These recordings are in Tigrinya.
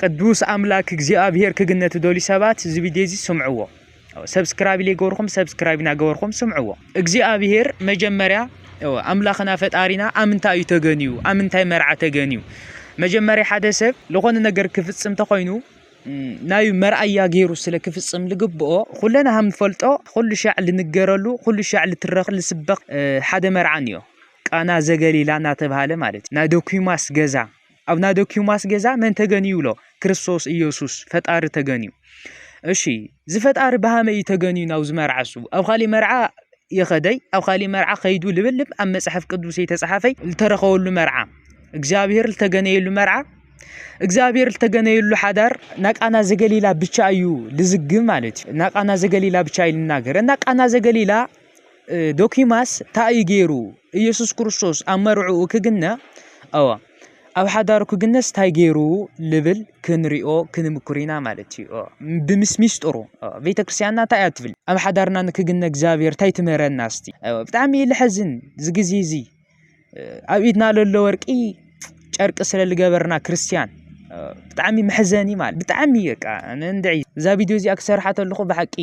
ቅዱስ ኣምላክ እግዚኣብሔር ክግነ ትደልዩ ሰባት እዚ ቪድዮ እዚ ስምዕዎ ሰብስክራይብ ዘይገበርኩም ሰብስክራይብ እናገበርኩም ስምዕዎ እግዚኣብሔር መጀመርያ ኣምላኽና ፈጣሪና ኣብ ምንታይ እዩ ተገንዩ ኣብ ምንታይ መርዓ ተገንዩ መጀመርያ ሓደ ሰብ ዝኾነ ነገር ክፍፅም ተኾይኑ ናይ መርኣያ ገይሩ ስለ ክፍፅም ልግብኦ ኩለና ሃም ንፈልጦ ኩሉ ሻዕ ልንገረሉ ኩሉ ሻዕ ልትረኽ ልስበኽ ሓደ መርዓን እዮ ቃና ዘገሊላ እናተባሃለ ማለት እዩ ናይ ዶኪማስ ገዛ ኣብ ናይ ዶኪማስ ገዛ መን ተገንዩ ኣሎ? ክርስቶስ ኢየሱስ ፈጣሪ ተገንዩ። እሺ ዝፈጣሪ ብሃመ እዩ ተገንዩ ናብ ዝመርዓሱ ኣብ ካሊእ መርዓ የኸደይ ኣብ ካሊእ መርዓ ከይዱ ልብልብ ኣብ መፅሓፍ ቅዱስ የተፃሓፈይ ዝተረኸበሉ መርዓ እግዚኣብሔር ዝተገነየሉ መርዓ እግዚኣብሔር ዝተገነየሉ ሓዳር ናቃና ዘገሊላ ብቻ እዩ ልዝግብ ማለት እዩ ናቃና ዘገሊላ ብቻ እዩ ልናገር እና ቃና ዘገሊላ ዶኪማስ ታይ እዩ ገይሩ ኢየሱስ ክርስቶስ ኣብ መርዕኡ ክግነ ኣዋ ኣብ ሓዳሩ ክግነስ ታይ ገይሩ ልብል ክንሪኦ ክንምክር ኢና ማለት እዩ ብምስ ሚስጥሩ ቤተክርስትያንና ታይ እያ ትብል ኣብ ሓዳርና ንክግነ እግዚኣብሔር ታይ ትምህረና እስቲ ብጣዕሚ እዩ ልሐዝን እዚ ግዜ እዚ ኣብ ኢድና ለሎ ወርቂ ጨርቂ ስለ ልገበርና ክርስትያን ብጣዕሚ መሕዘኒ ማለት ብጣዕሚ በቃ እንድዒ እዛ ቪድዮ እዚኣ ክሰርሓ ተለኹ ብሓቂ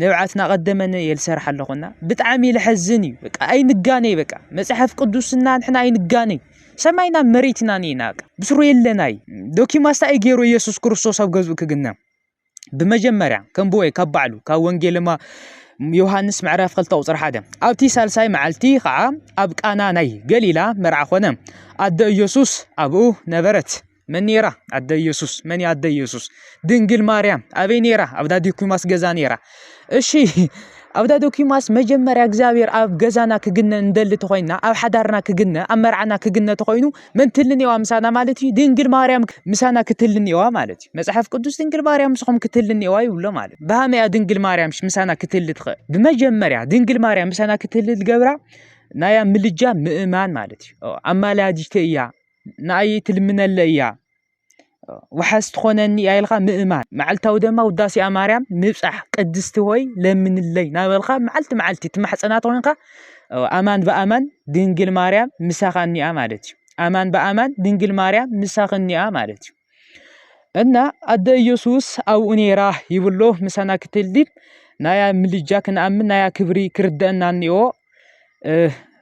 ንብዓት ናቀደመ የልሰርሕ ኣለኹና ብጣዕሚ ለሐዝን እዩ በቃ ኣይንጋነይ በቃ መፅሐፍ ቅዱስና ንሕና ኣይንጋነይ ሰማይና መሬትናን ኢና በቃ ብስሩ የለና እዩ ዶኪማስታ እዩ ገይሩ ኢየሱስ ክርስቶስ ኣብ ገዝኡ ክግነ ብመጀመርያ ከም ብወይ ካብ ባዕሉ ካብ ወንጌልማ ዮሃንስ ምዕራፍ ክልተ ቁፅሪ ሓደ ኣብቲ ሳልሳይ መዓልቲ ከዓ ኣብ ቃና ናይ ገሊላ መርዓ ኮነ ኣደ ኢየሱስ ኣብኡ ነበረት መን ነይራ ኣደ ኢየሱስ መን ኣደ ኢየሱስ ድንግል ማርያም ኣበይ ነይራ ኣብ ዳዲኩማስ ገዛ ነይራ እሺ ኣብ ዳዲኩማስ መጀመርያ እግዚኣብሔር ኣብ ገዛና ክግነ እንደሊ ተኾይና ኣብ ሓዳርና ክግነ ኣብ መርዓና ክግነ ተኾይኑ መን ትልንዋ ምሳና ማለት እዩ ድንግል ማርያም ምሳና ክትልንዋ ማለት እዩ መጽሐፍ ቅዱስ ድንግል ማርያም ምስኹም ክትልንዋ ይብሎ ማለት ብሃመያ ድንግል ማርያም ምሳና ክትል ትኽእል ብመጀመርያ ድንግል ማርያም ምሳና ክትል ዝገብራ ናያ ምልጃ ምእማን ማለት እዩ ኣማላያጅተ እያ ንኣይ ትልምነለይ እያ ዋሓስ ትኾነኒ እያ ኢልካ ምእማን መዓልታዊ ድማ ውዳሴኣ ማርያም ምብፃሕ ቅድስቲ ሆይ ለምንለይ ናበልካ መዓልቲ መዓልቲ ትማሕፀናት ኮይንካ ኣማን ብኣማን ድንግል ማርያም ምሳኻ እኒኣ ማለት እዩ ኣማን ብኣማን ድንግል ማርያም ምሳኽ እኒኣ ማለት እዩ እና ኣደ ኢየሱስ ኣብኡ ነይራ ይብሎ ምሳና ክትልዲብ ናያ ምልጃ ክንኣምን ናያ ክብሪ ክርደአና እኒኦ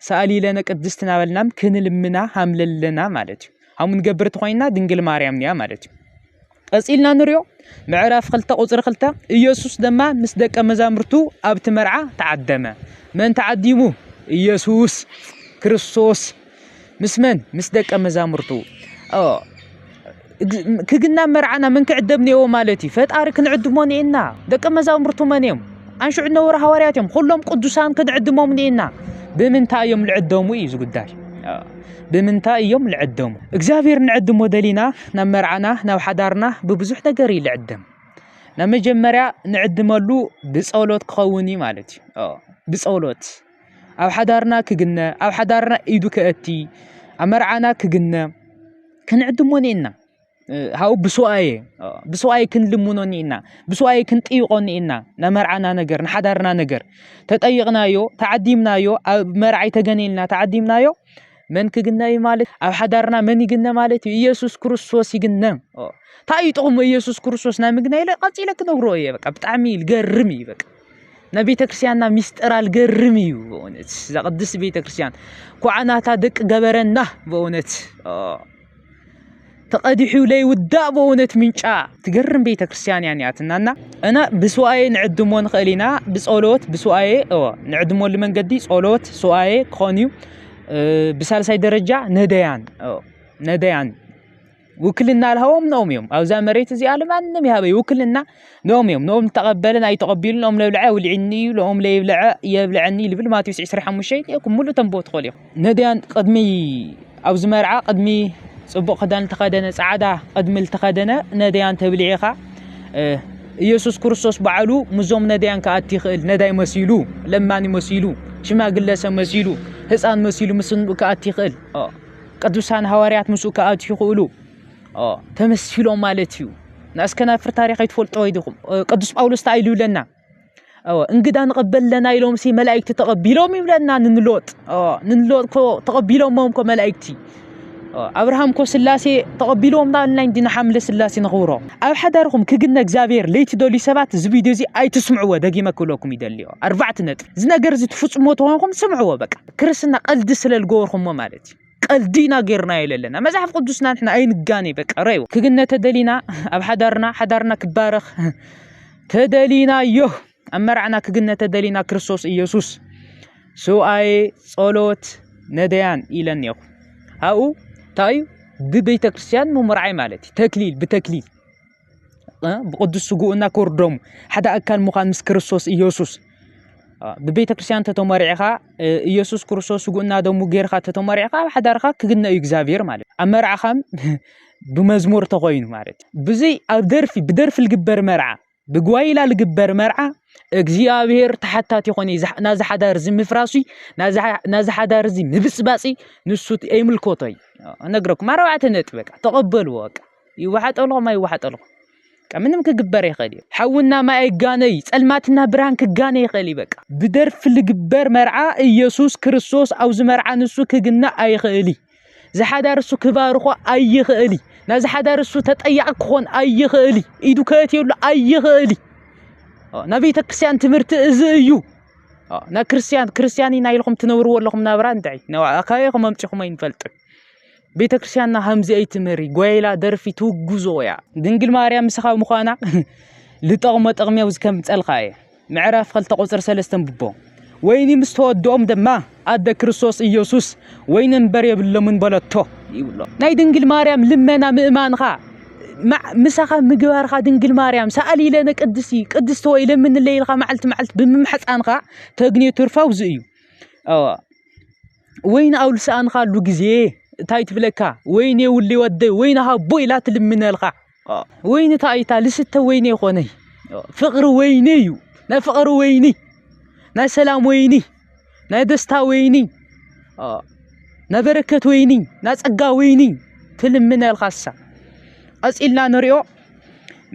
ሰኣሊ ለነ ቅድስት ናበልናም ክንልምና ሃምለለና ማለት እዩ ሃሙ ንገብር ተኾይና ድንግል ማርያም እያ ማለት እዩ ቀፂልና ንሪኦ ምዕራፍ ክልተ ቁፅሪ ክልተ ኢየሱስ ድማ ምስ ደቀ መዛሙርቱ ኣብቲ መርዓ ተዓደመ መን ተዓዲሙ ኢየሱስ ክርስቶስ ምስ መን ምስ ደቀ መዛሙርቱ ክግናብ መርዓና መን ክዕደብ ኔዎ ማለት እዩ ፈጣሪ ክንዕድሞ ኒኤና ደቀ መዛሙርቱ መን እዮም ኣንሽዑ ነበሩ ሃዋርያት እዮም ኩሎም ቅዱሳን ክንዕድሞም ኒኤና ብምንታይ እዮም ልዕደሙ እዩ ዝጉዳይ ብምንታይ እዮም ልዕደሙ እግዚኣብሔር ንዕድሞ ደሊና ናብ መርዓና ናብ ሓዳርና ብብዙሕ ነገር እዩ ልዕደም ናብ መጀመርያ ንዕድመሉ ብጸሎት ክኸውን እዩ ማለት እዩ ብጸሎት ኣብ ሓዳርና ክግነ ኣብ ሓዳርና ኢዱ ከእቲ ኣብ መርዓና ክግነ ክንዕድሞ ኒኢና ሃው ብስዋኤ ብስዋኤ ክንልምኖ ኒኢና ብስዋኤ ክንጥይቖ ኒኢና ናይ መርዓና ነገር ንሓዳርና ነገር ተጠይቕናዮ ተዓዲምናዮ ኣብ መርዓይ ተገኒልና ተዓዲምናዮ መን ክግነ እዩ ማለት ኣብ ሓዳርና መን ይግነ ማለት እዩ ኢየሱስ ክርስቶስ ይግነ እንታይ እዩ ጥቕሙ ኢየሱስ ክርስቶስ ናይ ምግናይ ኢለ ቀፂለ ክነግሮ እየ በቃ ብጣዕሚ ልገርም እዩ በቃ ናይ ቤተ ክርስቲያንና ሚስጥር ኣልገርም እዩ በእውነት እዛ ቅድስት ቤተ ክርስቲያን ኳዓናታ ደቂ ገበረና በእውነት ተቐዲሑ ለይውዳእ በእውነት ምንጫ ትገርም ቤተ ክርስቲያን እያ ኒያትናና እና ብሱኣኤ ንዕድሞ ንኽእል ኢና ብፀሎት ብሱኣኤ እወ ንዕድመሉ መንገዲ ፀሎት ሱኣኤ ክኾን እዩ ብሳልሳይ ደረጃ ነደያን ነደያን ውክልና ልሃቦም ንኦም እዮም ኣብዛ መሬት እዚኣ ልማንም ይሃበይ ውክልና ንኦም እዮም ንኦም ተቐበለን ኣይተቐቢሉ ንኦም ለብልዐ ውልዕኒ እዩ ንኦም ለይብልዐ የብልዐኒ ልብል ማቴዎስ 25 ይእኩም ሙሉእ ተንብቦ ትኽእሉ እዮም ነድያን ቅድሚ ኣብዚ መርዓ ቅድሚ ፅቡቕ ክዳን ልተኸደነ ፃዕዳ ቅድሚ ልተኸደነ ነድያን ተብልዒኻ ኢየሱስ ክርስቶስ ባዕሉ ምዞም ነድያን ክኣቲ ይኽእል ነዳይ መሲሉ ለማኒ መሲሉ ሽማግለሰ መሲሉ ህፃን መሲሉ ምስ ክኣቲ ይኽእል ቅዱሳን ሃዋርያት ምስኡ ክኣትዩ ይኽእሉ ተመሲሎም ማለት እዩ ንኣስከ ናብ ፍር ታሪኽ ኣይትፈልጦ ይድኹም ቅዱስ ጳውሎስ ተኣይሉ ይብለና እንግዳ ንቐበል ኣለና ኢሎም ሲ መላእክቲ ተቐቢሎም ይብለና ንንሎጥ ንንሎጥ ኮ ተቐቢሎሞም ኮ መላእክቲ ኣብርሃም ኮ ስላሴ ተቐቢልዎም ዳልና እንዲ ንሓምለ ስላሴ ንኽብሮ ኣብ ሓዳርኹም ክግነ እግዚኣብሔር ለይትደልዩ ሰባት እዚ ቪድዮ እዚ ኣይትስምዕዎ ደጊመ ክብለኩም ይደልዮ ኣርባዕተ ነጥቢ እዚ ነገር እዚ ትፍፅሞ ተኾንኩም ስምዕዎ በቃ ክርስትና ቀልዲ ስለ ዝገበርኩሞ ማለት እዩ ቀልዲ ኢና ጌርናዮ ዘለና መጽሓፍ ቅዱስና ንሕና ኣይንጋነ በቃ ረዩ ክግነ ተደሊና ኣብ ሓዳርና ሓዳርና ክባረኽ ተደሊና እዮ ኣብ መርዓና ክግነ ተደሊና ክርስቶስ ኢየሱስ ስውኣየ ጸሎት ነደያን ኢለን እኔኹ ኣብኡ እንታይ እዩ ብቤተ ክርስቲያን ምምርዓይ ማለት እዩ ተክሊል ብተክሊል ብቕዱስ ስግኡ እና ክቡር ደሙ ሓደ ኣካል ምዃን ምስ ክርስቶስ ኢየሱስ ብቤተ ክርስቲያን እንተተመሪዕኻ ኢየሱስ ክርስቶስ ስግኡ እና ደሙ ጌርካ ተተመሪዕካ ኣብ ሓዳርካ ክግነ እዩ እግዚኣብሔር ማለት ኣብ መርዓኻ ብመዝሙር ተኾይኑ ማለት ብዘይ ኣብ ደርፊ ብደርፊ ልግበር መርዓ ብጓይላ ልግበር መርዓ እግዚኣብሔር ተሓታቲ ይኾን እዩ ናዚ ሓዳር እዚ ምፍራሲ ናዚ ሓዳር እዚ ምብፅባፂ ንሱ ኣይምልኮቶ እዩ እነግረኩም ኣርባዕተ ነጥቢ በቃ ተቐበልዎ በቃ ይወሓጠልኹም ኣይወሓጠልኹም ምንም ክግበር ይኽእል እዩ። ሓውና ማይ ኣይጋነ እዩ፣ ጸልማትና ብርሃን ክጋነ ይኽእል እዩ። በቃ ብደርፊ ልግበር መርዓ ኢየሱስ ክርስቶስ ኣብዚ መርዓ ንሱ ክግና ኣይኽእል እዩ። ዝሓዳር እሱ ክባርኾ ኣይኽእል እዩ። ናዚ ሓዳር እሱ ተጠያቂ ክኾን ኣይኽእል እዩ። ኢዱ ከእትየሉ ኣይኽእል እዩ። ናይ ቤተ ክርስቲያን ትምህርቲ እዚ እዩ። ናይ ክርስቲያን ክርስቲያን ኢና ኢልኩም ትነብርዎ ኣለኹም ናብራ እንታይ ንዓ ኣካየኹም ኣምጪኹም ኣይንፈልጥን። ቤተ ክርስቲያንና ከምዚ ኣይትምህሪ ጓይላ ደርፊ ትውግዞ እያ ድንግል ማርያም ምስኻ ምዃና ልጠቕሞ ጥቕሚ ኣብዚ ከምፀልካ እየ ምዕራፍ ክልተ ቁፅሪ ሰለስተ ንብቦ ወይኒ ምስ ተወድኦም ድማ ኣደ ክርስቶስ ኢየሱስ ወይኒ እምበር የብሎምን በለቶ ይብሎ ናይ ድንግል ማርያም ልመና ምእማንኻ ምሳኻ ምግባርካ ድንግል ማርያም ሰኣሊ ኢለነ ቅድስቲ ቅድስቲ ወይ ለምንለይ ኢልካ መዓልቲ መዓልቲ ብምምሕፃንካ ተግንዮ ትርፋ ውዚ እዩ ወይኒ ኣውልሳኣንኻ ኣሉ ግዜ እንታይ ትብለካ ወይኔ ውሊ ወደ ወይኒ ሃቦ ኢላ ትልምነልካ ወይኒ ታይታ ልስተ ወይኔ ኮነይ ፍቅሪ ወይኒ እዩ ናይ ፍቅሪ ወይኒ ናይ ሰላም ወይኒ ናይ ደስታ ወይኒ ናይ በረከት ወይኒ ናይ ፀጋ ወይኒ ትልምነልካ እሳ ቀፂልና ንሪኦ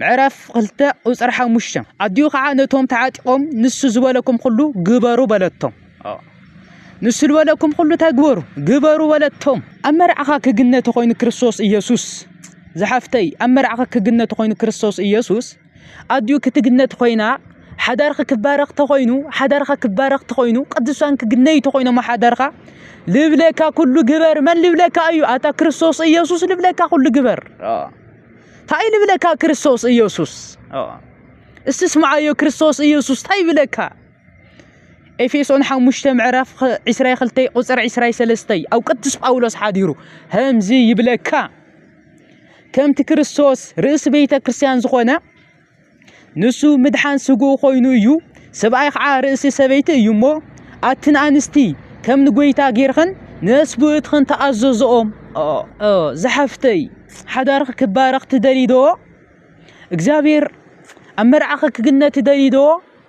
ምዕራፍ ክልተ ቁፅሪ ሓሙሽተ ኣዲኡ ከዓ ነቶም ተዓጢቆም ንሱ ዝበለኩም ኩሉ ግበሩ በለቶም ንሱ ዝበለኩም ኩሉ እንታይ ግበሩ ግበሩ በለቶም ኣብ መርዓኻ ክግነ ተኮይኑ ክርስቶስ ኢየሱስ ዝሓፍተይ ኣብ መርዓኻ ክግነ ተኮይኑ ክርስቶስ ኢየሱስ ኣዲኡ ክትግነ ተኮይና ሓዳርኺ ክባረኽ ተኮይኑ ሓዳርኻ ክባረኽ ተኮይኑ ቅዱሳን ክግነዩ ተኮይኖም ሓዳርኻ ልብለካ ኩሉ ግበር መን ልብለካ እዩ ኣታ ክርስቶስ ኢየሱስ ልብለካ ኩሉ ግበር እንታይ እዩ ልብለካ ክርስቶስ ኢየሱስ እስቲ ስምዓዮ ክርስቶስ ኢየሱስ እንታይ ይብለካ ኤፌሶን ሓሙሽተ ምዕራፍ ዕስራይ ክልተይ ቁፅር ዕስራይ ሰለስተይ ኣብ ቅዱስ ጳውሎስ ሓዲሩ ከምዚ ይብለካ ከምቲ ክርስቶስ ርእሲ ቤተ ክርስቲያን ዝኾነ ንሱ ምድሓን ስግኡ ኮይኑ እዩ፣ ሰብኣይ ኸዓ ርእሲ ሰበይቲ እዩ እሞ፣ ኣትን ኣንስቲ ከም ንጐይታ ጌርኽን ንነስብኡትኽን ተኣዘዝኦም። ዝሓፍተይ ሓዳርኺ ክባረኽ ትደልይዶ? እግዚኣብሔር ኣብ መርዓኺ ክግነ ትደልይዶ?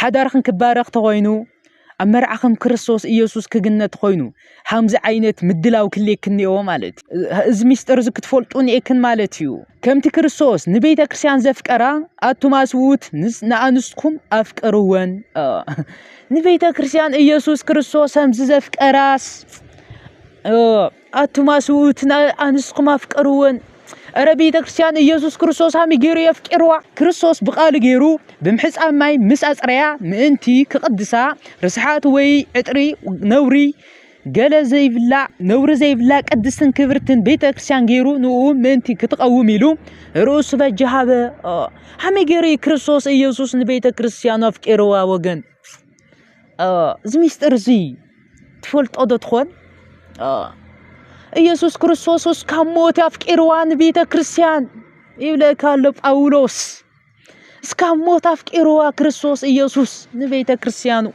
ሓዳርኽን ክባረኽ ተኾይኑ ኣብ መርዓኽም ክርስቶስ ኢየሱስ ክግነት ኮይኑ ሃምዚ ዓይነት ምድላው ክልየክን እኒኦ ማለት እዚ ሚስጥር እዚ ክትፈልጡ እኒኤክን ማለት እዩ ከምቲ ክርስቶስ ንቤተ ክርስቲያን ዘፍቀራ ኣቱም ኣስውት ንኣንስትኩም ኣፍቅርወን ንቤተ ክርስቲያን ኢየሱስ ክርስቶስ ከምዚ ዘፍቀራስ ኣቱም ኣስውእትና ኣንስኹም ኣፍቀርወን እረ ቤተ ክርስቲያን ኢየሱስ ክርስቶስ ሃሚ ገይሩ የፍቂርዋ ክርስቶስ ብቃሉ ገይሩ ብምሕፃብ ማይ ምስ ኣፅረያ ምእንቲ ክቕድሳ ርስሓት ወይ ዕጥሪ ነውሪ ገለ ዘይብላ ነውሪ ዘይብላ ቅድስትን ክብርትን ቤተ ክርስቲያን ገይሩ ንኡ ምእንቲ ክትቐውም ኢሉ ርእሱ በጃ ሃበ ሃሚ ገይሩ ክርስቶስ ኢየሱስ ንቤተ ክርስቲያኑ ኣፍቂርዋ ወገን እዚ ምስጢር እዚ ትፈልጦ ዶ ትኾን? ኢየሱስ ክርስቶስ እስካብ ሞት ኣፍቂርዋ ንቤተ ክርስቲያን ይብለካ ኣሎ ጳውሎስ። እስካብ ሞት ኣፍቂርዋ ክርስቶስ ኢየሱስ ንቤተ ክርስቲያኑ።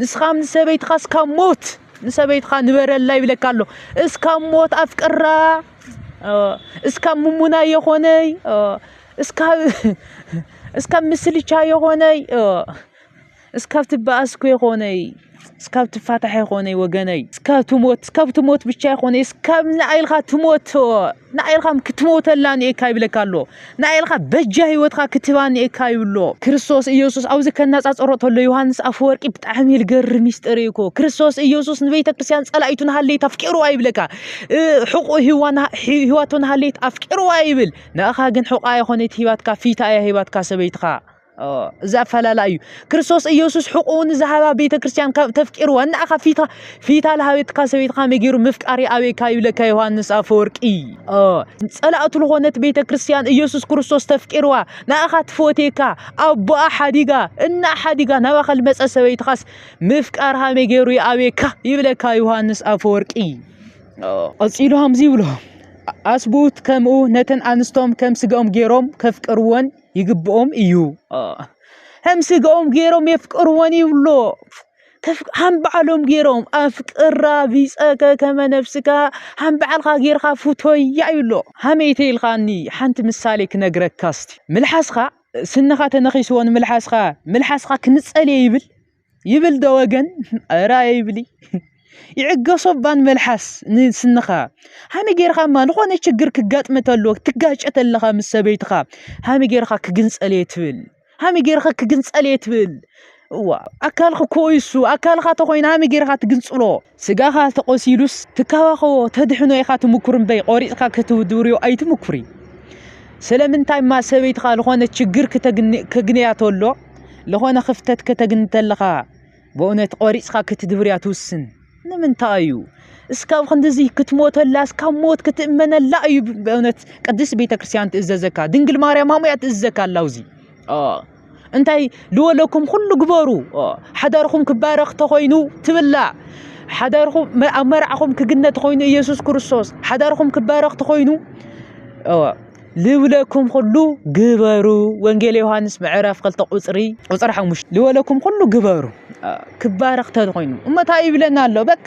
ንስኻ ንሰበይትኻ እስካብ ሞት ንሰበይትኻ ንበረላ ይብለካ ኣሎ። እስካብ ሞት ኣፍቅራ፣ እስካብ ምሙና የኾነይ፣ እስካብ ምስልቻ የኾነይ እስካብ ትባኣስ እኮ ይኮነይ እስካብ ትፋታሕ ይኮነይ ወገነይ እስካብ ትሞት እስካብ ትሞት ብቻ ይኮነይ እስካብ ንኣይልካ ትሞት ንኣይልካ ክትሞተላ ንኤካ ይብለካ ኣሎ ንኣይልካ በጃ ሂወትካ ክትባ ንኤካ ይብሎ ክርስቶስ ኢየሱስ ኣብዚ ከናጻጸሮ ተሎ ዮሃንስ ኣፈወርቂ ብጣዕሚ ልገር ሚስጥር እኮ ክርስቶስ ኢየሱስ ንቤተ ክርስቲያን ጸላኢቱ ንሃለይት ኣፍቂርዋ ይብለካ ሕቁ ሂዋና ሂዋቶ ንሃለይት ኣፍቂርዋ ይብል ንኣኻ ግን ሕቋ ይኮነይት ሂባትካ ፊታ እያ ሂባትካ ሰበይትካ እዚ ኣፈላላይ እዩ ክርስቶስ ኢየሱስ ሕቁኡ ንዝሃባ ቤተ ክርስቲያን ካብ ተፍቂርዋ እና ኣኻ ፊታ ፊታ ለሃቤትካ ሰበይትካ መጊሩ ምፍቃሪ ኣበይካ ይብለካ ዮሐንስ ኣፈወርቂ ጸላእቱ ዝኾነት ቤተ ክርስቲያን ኢየሱስ ክርስቶስ ተፍቂርዋ ንኣኻ ትፈትየካ ኣቦኣ ሓዲጋ እና ሓዲጋ ናባኻ ልመጸ ሰበይትኻስ ምፍቃርሃ መጊሩ ይኣበየካ ይብለካ ዮሐንስ ኣፈወርቂ ቀጺሉ ሃምዚ ይብሎ ኣስቡት ከምኡ ነተን ኣንስቶም ከም ስጋኦም ገይሮም ከፍቅርወን ይግብኦም እዩ ከም ስግኦም ገይሮም የፍቅርወን ይብሎ ከም በዓሎም ገይሮም ኣፍቅራ ቢፀከ ከመ ነብስካ ከም በዓልካ ገይርካ ፍቶያ ይብሎ ሃመይተ ኢልካኒ ሓንቲ ምሳሌ ክነግረካ እስቲ ምልሓስካ ስንኻ ተነኺስዎ ንምልሓስካ ምልሓስካ ክንፀልየ ይብል ይብል ዶ ወገን ኧረ ኣይብሊ ይዕገሶ ባን መልሓስ ንስንኻ ሃሚ ጌርኻ እማ ዝኾነ ችግር ክጋጥመ ተሎ ትጋጨ ተለኻ ምስ ሰበይትኻ ሃሚ ጌርኻ ክግንፀል እየ ትብል ሃሚ ጌርኻ ክግንፀል እየ ትብል እዋ ኣካልክ ኮ ይሱ ኣካልኻ ተኾይኑ ሃሚ ጌርኻ ትግንፅሎ ስጋኻ ተቖሲሉስ ትካባኸቦ ተድሕኖ ኢኻ ትምኩር እምበይ ቆሪጽካ ክትድብርዮ ኣይትምኩሪ ስለምንታይማ ሰበይትኻ ልኾነ ችግር ከግንያ ተሎ ልኾነ ክፍተት ከተግኒ ተለኻ በእውነት ቆሪጽካ ክትድብርያ ትውስን ንምንታይ እዩ እስካብ ክንድዚ ክትሞተላ እስካብ ሞት ክትእመነላ እዩ በእውነት ቅድስት ቤተ ክርስቲያን ትእዘዘካ ድንግል ማርያም ኣሙያ ትእዘዘካ ኣላውዚ እንታይ ልወለኩም ኩሉ ግበሩ ሓዳርኹም ክባረኽ ተኾይኑ ትብላዕ ሓዳርኹም ኣብ መርዓኹም ክግነ ተኾይኑ ኢየሱስ ክርስቶስ ሓዳርኹም ክባረኽ ተኾይኑ ልብለኩም ኩሉ ግበሩ ወንጌል ዮሃንስ ምዕራፍ ክልተ ቁፅሪ ቁፅሪ ሓሙሽተ ልበለኩም ኩሉ ግበሩ ክባረኽ ተኾይኑ እሞ እንታይ ይብለና ኣሎ በቃ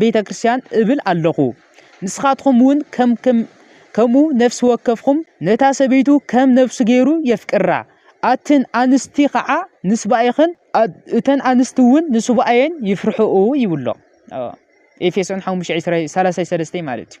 ቤተ ክርስቲያን እብል ኣሎኹ። ንስኻትኩም እውን ከምኡ ነፍሲ ወከፍኩም ነታ ሰበይቱ ከም ነፍሱ ገይሩ የፍቅራ፣ ኣትን ኣንስቲ ኸዓ ንስባኤኽን እተን ኣንስቲ እውን ንስባኤን ይፍርሕኡ ይብሎ ኤፌሶን ሓሙሽተ ሰላሳ ሰለስተ ማለት እዩ።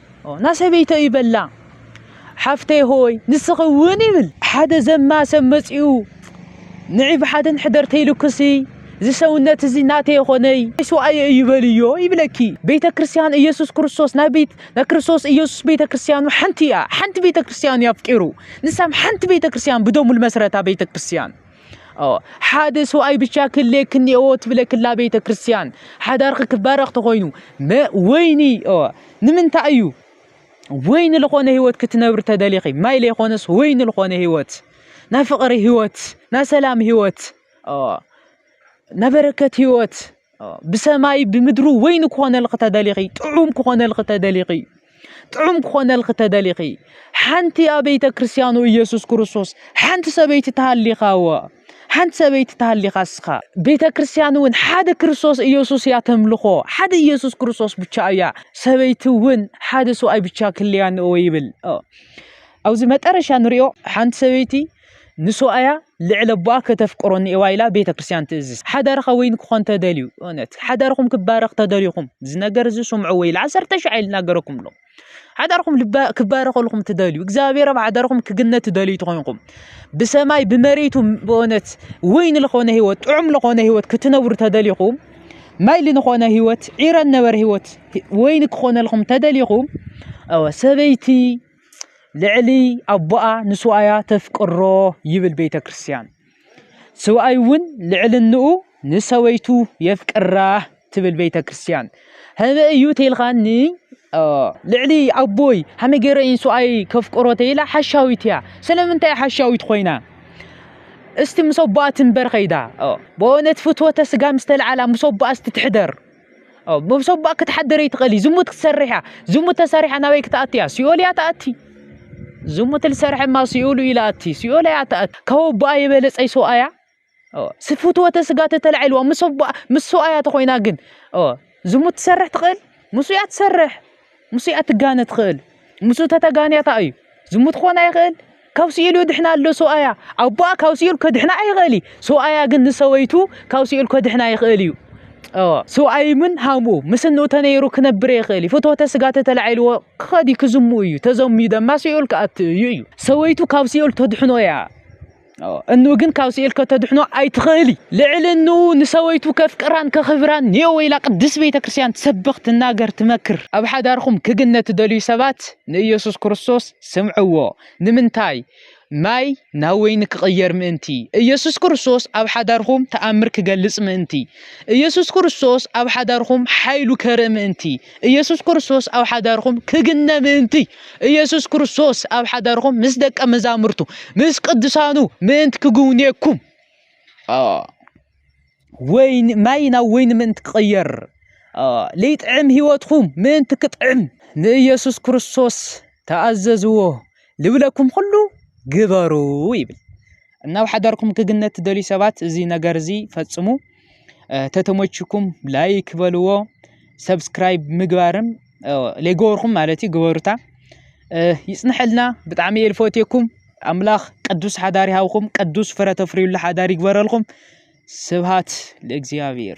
ን ሰበይተይ ይበላ ሓፍተይ ሆይ ንስኺ እውን ይብል ሓደ ዘማ ሰብ መጺኡ ንዒ ብሓደ ንሕደር ተይልኩሲ እዚ ሰውነት እዚ ናተይ የኾነይ ስዋኣየ እዩ በልዮ ይብለኪ ቤተ ክርስቲያን ኢየሱስ ክርስቶስ ናይ ቤት ናይ ክርስቶስ ኢየሱስ ቤተ ክርስቲያኑ ሓንቲ እያ ሓንቲ ቤተ ክርስቲያኑ ያፍቂሩ ንሳም ሓንቲ ቤተ ክርስቲያን ብደሙ ልመስረታ ቤተ ክርስቲያን ኣዎ ሓደ ሰብኣይ ብቻ ክህልየኪ እኒአዎ ትብለክላ ቤተ ክርስቲያን ሓዳርኺ ክባረኽ ተኾይኑ ወይኒ ኣዎ ንምንታይ እዩ ወይኒ ዝኾነ ህይወት ክትነብሪ ተደሊኺ ማይ ዘይኮነስ ወይኒ ዝኾነ ህይወት ናይ ፍቕሪ ህይወት ናይ ሰላም ህይወት ኣዎ ናይ በረከት ህይወት ብሰማይ ብምድሪ ወይኒ ክኾነልኺ ተደሊኺ ጥዑም ክኾነልኺ ተደሊኺ ጥዑም ክኾነልኺ ተደሊኺ ሓንቲ ኣብ ቤተ ክርስቲያኑ ኢየሱስ ክርስቶስ ሓንቲ ሰበይቲ ተሃሊኻ እወ ሓንቲ ሰበይቲ ተሃሊኻ እስኻ ቤተ ክርስቲያን እውን ሓደ ክርስቶስ ኢየሱስ እያ ተምልኾ ሓደ ኢየሱስ ክርስቶስ ብቻ እያ ሰበይቲ እውን ሓደ ሰብኣይ ብቻ ክልያን እወ ይብል ኣብዚ መጠረሻ ንሪኦ ሓንቲ ሰበይቲ ንሱኣያ ልዕሊ ኣቦኣ ከተፍቅሮ ኒኤዋ ኢላ ቤተ ክርስቲያን ትእዝዝ። ሓዳርኻ ወይን ክኾን ተደልዩ፣ እውነት ሓዳርኹም ክባረኽ ተደልዩኹም፣ እዚ ነገር እዚ ስምዑ ወይ ኢላ ዓሰርተ ሽዓ ኢል ናገረኩም ኣሎ። ሓዳርኹም ክባረኸልኹም ትደልዩ፣ እግዚኣብሔር ኣብ ሓዳርኹም ክግነት ትደልዩ ትኾንኩም፣ ብሰማይ ብመሬቱ በእውነት ወይን ልኾነ ህይወት፣ ጥዑም ልኾነ ህይወት ክትነብሩ ተደልዩኹም፣ ማይ ልንኾነ ህይወት፣ ዒረን ነበር ህይወት ወይን ክኾነልኹም ተደልዩኹም፣ ሰበይቲ ልዕሊ ኣቦኣ ንስውኣያ ተፍቅሮ ይብል ቤተ ክርስቲያን ስውኣይ እውን ልዕልንኡ ንሰበይቱ የፍቅራ ትብል ቤተ ክርስቲያን ህበ እዩ ተልኻኒ ልዕሊ ኣቦይ ሃመይ ገይረ እየን ስውኣይ ከፍቅሮ ተይላ ሓሻዊት እያ ስለምንታይ ሓሻዊት ኮይና እስቲ ምስ ኣቦኣ ትንበር ከይዳ በእውነት ፍትወተ ስጋ ምስተልዓላ ምስ ኣቦኣ እስቲ ትሕደር ሰቡኣ ክትሓድር ኣይትኽእል እዩ ዝሙት ክትሰርሕ እያ ዝሙት ተሰሪሓ ናበይ ክትኣቲ እያ ሲኦል እያ ትኣቲ ዝሙት ልሰርሐ እማ ሲኦሉ እዩ ልኣቲ ሲኦል እያ ትኣቲ ካብ ኣቦኣ የበለጸይ ሰብኣያ ስፍትወተ ስጋ ተተላዒልዋ ምስ ኣቦኣ ምስ ሰብኣያ ተኾይና ግን ዝሙት ትሰርሕ ትኽእል ምስ እያ ትሰርሕ ምስኡ እያ ትጋነ ትኽእል ምስኡ ተተጋንያ ከኣ እዩ ዝሙት ክኾን ኣይኽእል ካብ ስኢሉ ድሕና ኣሎ ሰብኣያ ኣቦኣ ካብ ስኢሉ ከድሕና ኣይኽእል እዩ ሰብኣያ ግን ንሰበይቱ ካብ ስኢሉ ከድሕና ይኽእል እዩ ሰብኣይ ምን ሃምኡ ምስ እንኡ ተነይሩ ክነብር ይኽእል እዩ ፍትወተ ስጋ ተተላዒልዎ ክኸዲ ክዝሙ እዩ ተዘምዩ ደማ ስኢሉ ክኣት እዩ እዩ ሰበይቱ ካብ ስኢሉ ተድሕኖ እያ እንኡ ግን ካብ ስኤል ከተድሕኖ ኣይትኽእሊ ልዕሊ እንኡ ንሰበይቱ ከፍቅራን ከኽብራን ኔኦ ወይላ ቅድስ ቤተ ክርስቲያን ትሰብኽ ትናገር ትመክር ኣብ ሓዳርኹም ክግነ ትደልዩ ሰባት ንኢየሱስ ክርስቶስ ስምዕዎ ንምንታይ ማይ ናብ ወይኒ ክቕየር ምእንቲ ኢየሱስ ክርስቶስ ኣብ ሓዳርኹም ተኣምር ክገልጽ ምእንቲ ኢየሱስ ክርስቶስ ኣብ ሓዳርኹም ሓይሉ ከርኢ ምእንቲ ኢየሱስ ክርስቶስ ኣብ ሓዳርኹም ክግነ ምእንቲ ኢየሱስ ክርስቶስ ኣብ ሓዳርኹም ምስ ደቀ መዛሙርቱ ምስ ቅዱሳኑ ምእንቲ ክግውንየኩም ወይን ማይ ናብ ወይኒ ምእንቲ ክቕየር ለይጥዕም ህይወትኩም ምእንቲ ክጥዕም ንኢየሱስ ክርስቶስ ተኣዘዝዎ ልብለኩም ኩሉ ግበሩ ይብል። እናብ ሓዳርኩም ክግነት ትደልዩ ሰባት እዚ ነገር እዚ ፈጽሙ። ተተሞችኩም ላይክ በልዎ ሰብስክራይብ ምግባርም ለይገበርኩም ማለት እዩ ግበሩታ ይፅንሐልና ብጣዕሚ እየ ልፈትየኩም ኣምላኽ ቅዱስ ሓዳር ይሃብኹም ቅዱስ ፍረ ተፍርዩሉ ሓዳር ይግበረልኩም ስብሃት ለእግዚኣብሔር